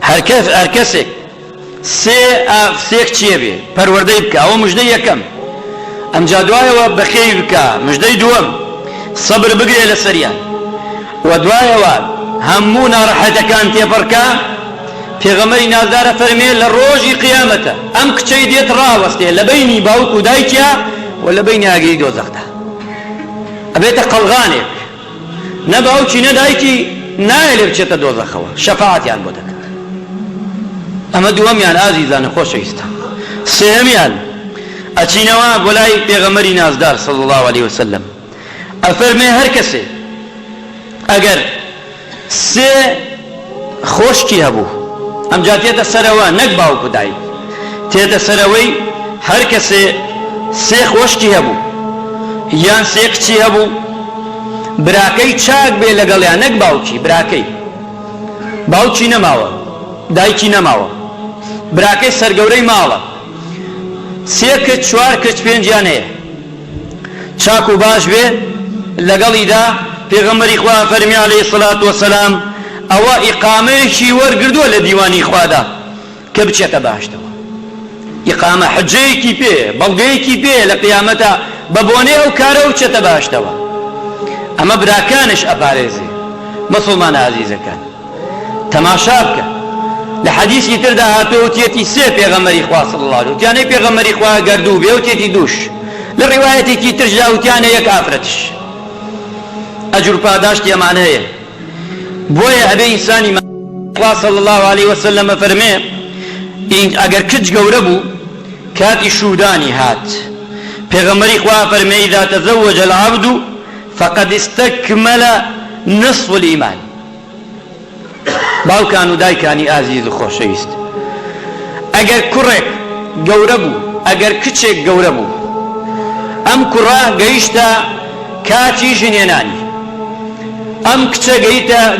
هەرکەسێک سێ کچێ بێ پەروەردەی بکا ئەوە مژدەی یەکەم ئەمجا دوایەوە بەخێوی بکا مژدەی دووەم سەبر بگرێ لەسەریان وە دوایەوە هەموو نارەحەتەکان تێپەڕکا پێغەمبەری نازدار ئەفەرمێ لە ڕۆژی قیامەتە ئەم کچەی دێت ڕاوەستێ لە بەینی باوک و دایکیا و لە بەینی ئاگری دۆزەخدا ئەبێتە قەڵغانێک نە باوکی نە دایکی نایەلێ بچێتە دۆزەخەوە شەفاعەتیان بۆ دەکات ئەمە دووەمیان ئازیزانە خۆشەویستان سێهەمیان ئەچینەوە بۆ لای پێغەمەری نازدار صلی الله علیه وسلم ئەفەرمێ هەر کەسێ ئەگەر سێ خۆشکی هەبوو ئەمجا دێتە سەرەوە نەک باوک و دایک تێتە سەرەوەی هەر کەسێ سێ خۆشکی هەبوو یان سێ کچی هەبوو براکەی چاک بێ لەگەڵیان نەک باوکی براکەی باوکی نەماوە دایکی نەماوە براکەی سەرگەورەی ماڵە سێ کچ چوار کچ پێنجیان هەیە چاک و باش بێ لەگەڵیدا، پێغەمبەری خوا فەرمی علیە سڵات وسلام ئەوە ئیقامەیەکی وەرگردووە لە دیوانی خوادا کە بچێتە بەهەشتەوە ئیقامە حجەیەکی پێ بەڵگەیەکی پێ لە قیامەتە بە بۆنەی ئەو کارە بچێتە بەهەشتەوە ئەمە براکانش ئەپارێزێ مسلمانە ئازیزەکان تەماشا بکە لە حەدیسی تردا هاتووە وتیەتی سێ پێغەمەری خوا صلی الله علیه وتیانەی پێغەمەری خوا گەر دوو بێ وتیەتی دووش لە ڕیوایەتێکی ترشدا وتیانە یەک ئافرەتش ئەجر پاداشتی ئەمان هەیە بۆیە ئەبێ ئینسانی خوا صلی الله علیه وسلم فەرمێ ئەگەر کچ گەورە بوو کاتی شودانی هات پێغەمەری خوا فەرمێ اذا تزوج العبد فقد استكمل نصف الإيمان باوکان و دایکانی ئازیز و خۆشەویست، ئەگەر کوڕێک گەورە بوو، ئەگەر کچێک گەورە بوو، ئەم کوڕە گەیشتە کاتی ژنهێنانی، ئەم کچە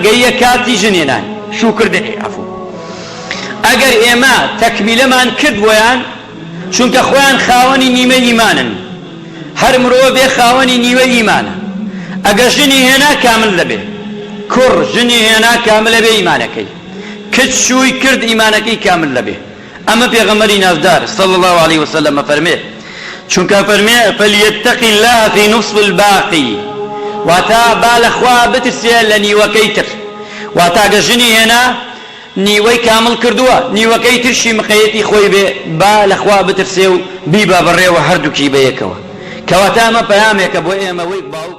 گەییە کاتی ژنهێنانی، شووکردنی، عەفوو، ئەگەر ئێمە تەکمیلەمان کرد بۆیان، چونکە خۆیان خاوەنی نیمەی ئیمانن هەر مرۆڤێ خاوەنی نیوەی ئیمانە ئەگە ژنی هێنا کامل دەبێ کوڕ ژنی هێنا کاملە بێ ئیمانەکەی کچ شووی کرد ئیمانەکەی کامل دەبێ ئەمە پێغەمەری نازدار صلی الله عليه وسلم فەرمێ چونکە فەرمێ فلیتق الله فی نصف الباقی واتا با لەخوا بترسێ لە نیوەکەی تر واتا گە ژنی هێنا نیوەی کامڵ کردووە نیوەکەی ترشی مقەیەتی خۆی بێ با لە خوا بترسێ و بیبا بەڕێوە هەردووکی بەیەکەوە کەواتە ئەمە پەیامێکە بۆ ئێمە وەی باوک